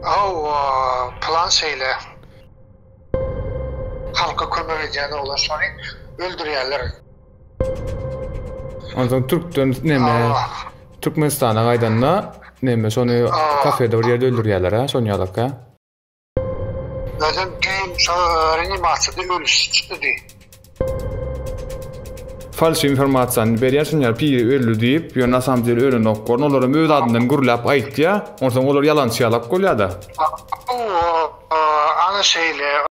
Hawa, plan şeýle. Halka kömek edýän oglanşary öldürýärler. Onsoň türkden neme? Türkmenistana gaýdanda neme şony kafede bir ýerde öldürýärler-ä, şony ýalak-a? Özem düýn şo reanimasiýada ölüsi çykdy diý. Falş informasiýany berýän şunýar piri öldi diýip ýöne nasamdel ölenokgorn olaram öz adyndan gürläp aýtýa onsoň olar ýalançy ýalak bolýada. Ana şeýle.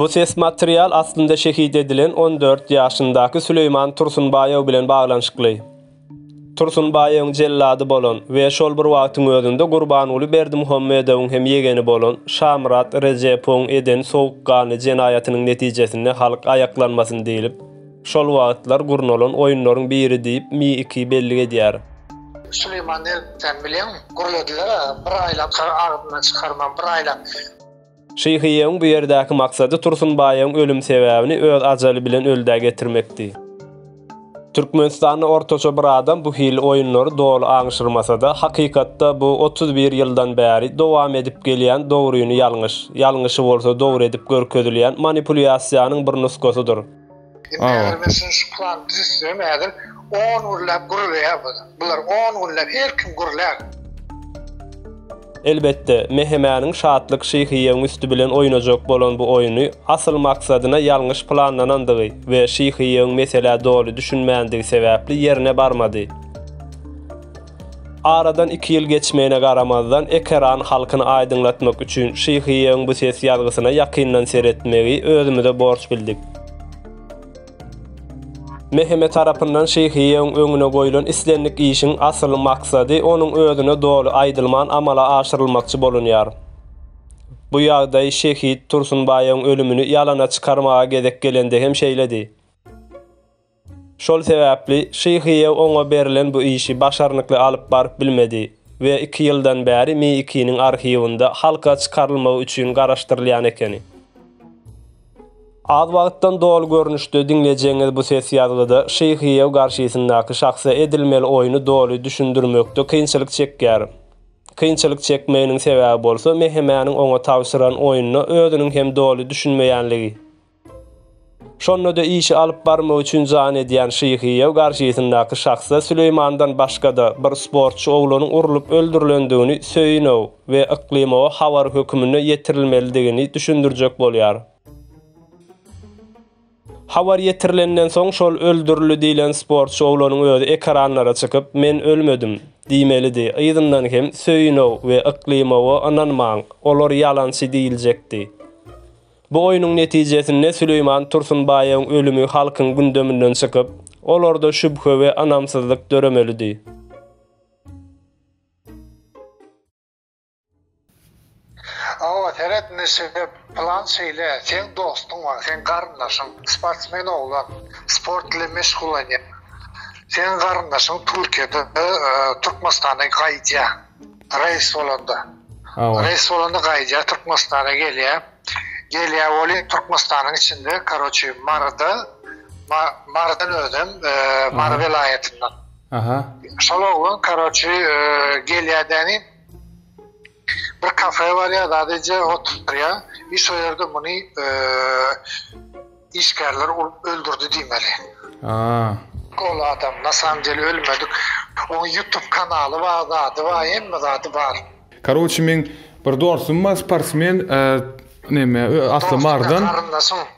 Bu ses material aslynda şehit edilen 14 ýaşyndaky Süleýman Tursunbaýew bilen baglanyşykly. Tursunbaýewiň jellady bolan we şol bir wagtyň özünde Gurbanguly Berdimuhamedowyň hem ýegeni bolan Şamyrat Rejepowyň eden sowukganly jenaýatynyň netijesinde halk aýaklanmasyn diýlip, Şol wagtlar gurnalan oýunlaryň biri diýip Mi iki bellik edýär. Süleýman Delbi sen bilýäňmi? Gürlediler-ä, bir aýlap agzyndan çykarman, bir aýlap. Şyhyýewiň bu ýerdäki maksady Tursunbaýyň ölüm sebäbini öz ajaly bilen öldä getirmekdi. Türkmenistanda ortaça bir adam bu hili oýunlary doly aňşyrmasa-da, hakykatda bu otuz bir ýyldan bäri dowam edip gelýän dogryny ýalňyş, ýalňyşy bolsa dogry edip görkezilýän manipulýasiýanyň bir nusgasydyr. Elbetde, Mehemäniň Şatlyk Şyhyýewiň üsti bilen oýnajak bolan bu oýny asyl maksadyna ýalňyş planlanandygy we Şyhyýewiň meselä doly düşünmändigi sebäpli ýerine barmady. Aradan iki ýyl geçmegine garamazdan, ekeran halkyny aýdyňlatmak üçin Şyhyýegiň bu ses ýazgysyna ýakyndan seretmegi özümize borç bildik. Meheme tarapyndan Şyhyýegiň öňüne goýlan islendik işiň asyl maksady onuň özüne doly aýdylman amala aşyrylmakçy bolunýar. Bu ýagdaý şehit Tursunbaýyň ölümini ýalana çykarmaga gezek gelende hem şeýledi. Şol sebäpli Şyhyýew oňa berlen bu işi başarnykly alyp baryp bilmedi we iki ýyldan bäri MI2-niň arhiwinde halka çykarylmagy üçin garaşdyrylýan ekeni. Az wagtdan doly görnüşde diňlejegiňiz bu ses ýazgyda Şyhyýew garşysyndaky şahsa edilmeli oýny doly düşündirmekde kynçylyk çekýär. Kynçylyk çekmeginiň sebäbi bolsa Mehemäniň oňa tabşyran oýnuna özüniň hem doly düşünmeýänligi. Şonda-da işi alyp barmak üçin jan edýän Şyhyýew garşysyndaky şahsa Süleýmandan başga-da bir sportçy oglanyň urlup öldürilendigini Söýünow we Yklymowa habar höküminde ýetirilmelidigini düşündirjek bolýar. Habar ýetirilenden soň şol öldürildi diýlen sportçy oglanyň özi ekranlara çykyp, Men ölmedim! diýmelidi, yzyndan hem Söýünow we Yklymowa ynanmaň, olar ýalançy diýiljekdi. Bu oýnuň netijesinde Süleýman Tursunbaýewiň ölümi halkyň gündeminden çykyp, olarda şübhe we ynamsyzlyk döremelidi. Hawa, seret neşede plan şeýle, seň dostuň bar, seň garyndaşyň, sportsmen oglan, sport bilen meşgullanýar. Seň garyndaşyň Türkiýede, Türkmenistana gaýdýar. Reýs bolanda. Hawa. Reýs bolanda gaýdýar Türkmenistana gelýär. Gelýär weli Türkmenistanyň içinde, karoçi, Maryda, Marydan özem, e, Mary welaýatyndan. Aha. Şol oglan karoçi e, gelýädäni bir kafe barýar, zadyja oturýar. Iş o ýerde muny e, Işgärleri urup öldürdi diýmeli. Aa. Ol adam na samym dele ölmedik oň ýutup kanaly bar zady bar hemme zady bar. Karoçi meň bir dostum bar sportsmen neme asly mardan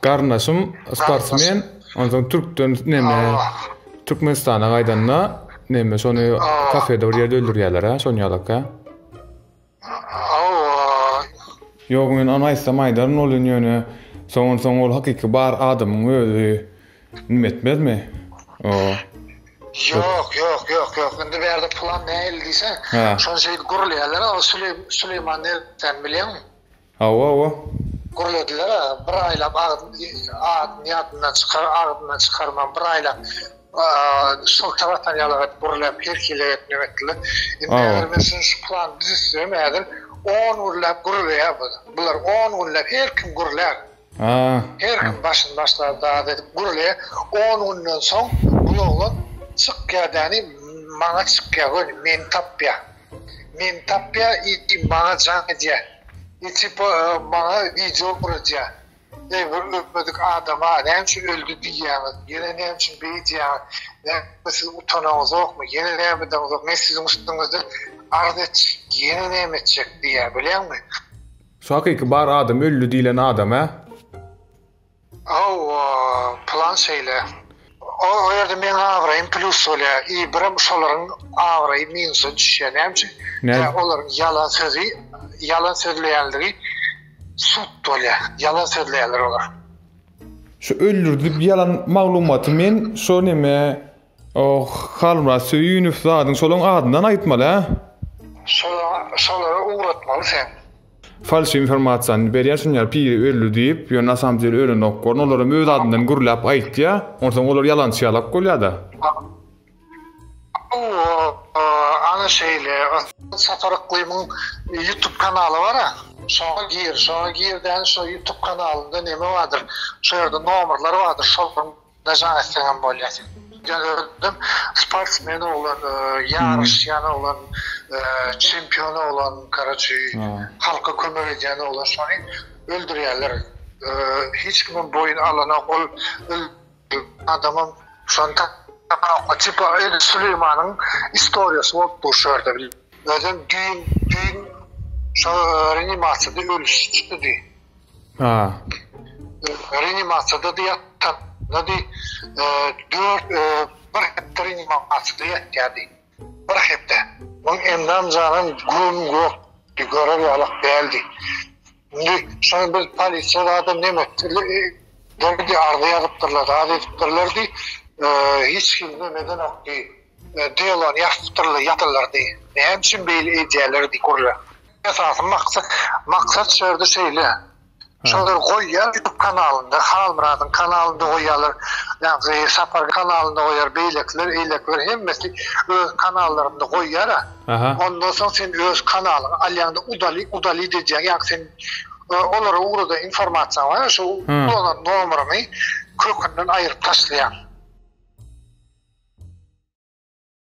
garyndaşym sportsmen onsoň türkden neme türkmenistana gaýdanda neme şony kafede bir ýerde öldürýäler a şony ýalaka. Ýok men ony aýtsam aýdaryn bolýan ýöne soňan soň ol hakyky bar adamyň özi nim etmezmi o. Ýok ýok ýok ýok indi bärde plan nähili diýseň şonşeýdi gurulýarlar o süleýman nerden bilýäň. Hawa hawa. Gürlediler a bir aýlap adyny ýadyndan çykar agzyndan çykarman bir aýlap şylta basan ýaly edip gürläp her hili edip neme etdiler indi eger men şuny şu plany düzüsem häzir on gürläp gürleýär bular on günläp her kim gürlär. Her kim başyny başlar daz edip gürlär. On günden soň bul oglan çykýar däni maňa çykýar göni meni tapýar. Meni tapýar i maňa jaň edýär. I tipa maňa wideo guradýar. Eý bir ölmedik adama näme üçin öldi diýýäňiz? Ýene näme üçin beýdýäňiz? Näme siz utanaňyzokmy? Ýene näme edeňizok? Men siziň üstüňizde arz etjek. Ýene näme etjek diýýär bilýäňmi? Şu hakyky bar adam öldi diýlen adam a. Hawa plan şeýle. O ýerde meň abraýym plus bolýar i birem şolaryň abraýy minusa düşýär näme üçin näme olaryň ýalan sözi ýalan sözleýänligi sud bolýar ýalan sözleýärler olar. Şu öldürdip ýalan maglumaty men şo neme Oh, Halmyrat Söýünow zadyň şolaň adyndan aýtmaly hä? Şola, şolara ugratmaly sen. Falş informasiýany berýän şuny ýaly piri öldi diýip ýöne nasamdel ölenok gorn olaram öz adyndan gürläp aýtýa onsoň olar ýalançy ýalak bolýada. Ana şeýle Sapar Yklymyň ýutub kanaly bara. Şoňa gir, şoňa girdäň şo ýutub kanalynda neme bardyr şo ýerde nomerler bardyr şolaryň dažan etseňem bolýar sen ýöne özüm sportsmen oglan ýaryşýan oglan çempion oglan karaçi halka kömek edýän oglan şony öldürýärler hiç kimem boýun alanok ol adamym şony tipa öýde süleýmanyň istoriýasy bolup dur şu ýerde bil özem düýn düýn şo reanimasiýada ölüp çykdy diý Ha. Reanimasiýada ýatan Nady dört bir hepde reanimasiýada ýatýardy. Bir hepde. Onuň endam janam güm gök görer ýalak däldi. Indi şoň biz polisiýa zada neme etdi? Derdi arza ýazypdyrlar, zada edipdirlerdi. Hiç kim nemeden okdy. Delony ýazypdyrlar, ýatyrlardy. Näme üçin beýle edýärler diýip gürlär. Esasy maksat maksat şu ýerde şeýle. Şolar goýýar YouTube kanalynda, Halmyradyň kanalynda goýýarlar, ýagny Sapar kanalynda goýýar, beýlekiler, eýlekiler hemmesi öz kanallarynda goýýar-a. Ondan soň sen öz kanalyňy alýaňda udali udalid edýäň, ýagny sen olara ugrada informasiýaň bar, şo ulanan nomeryňy kökünden aýryp taşlaýaň.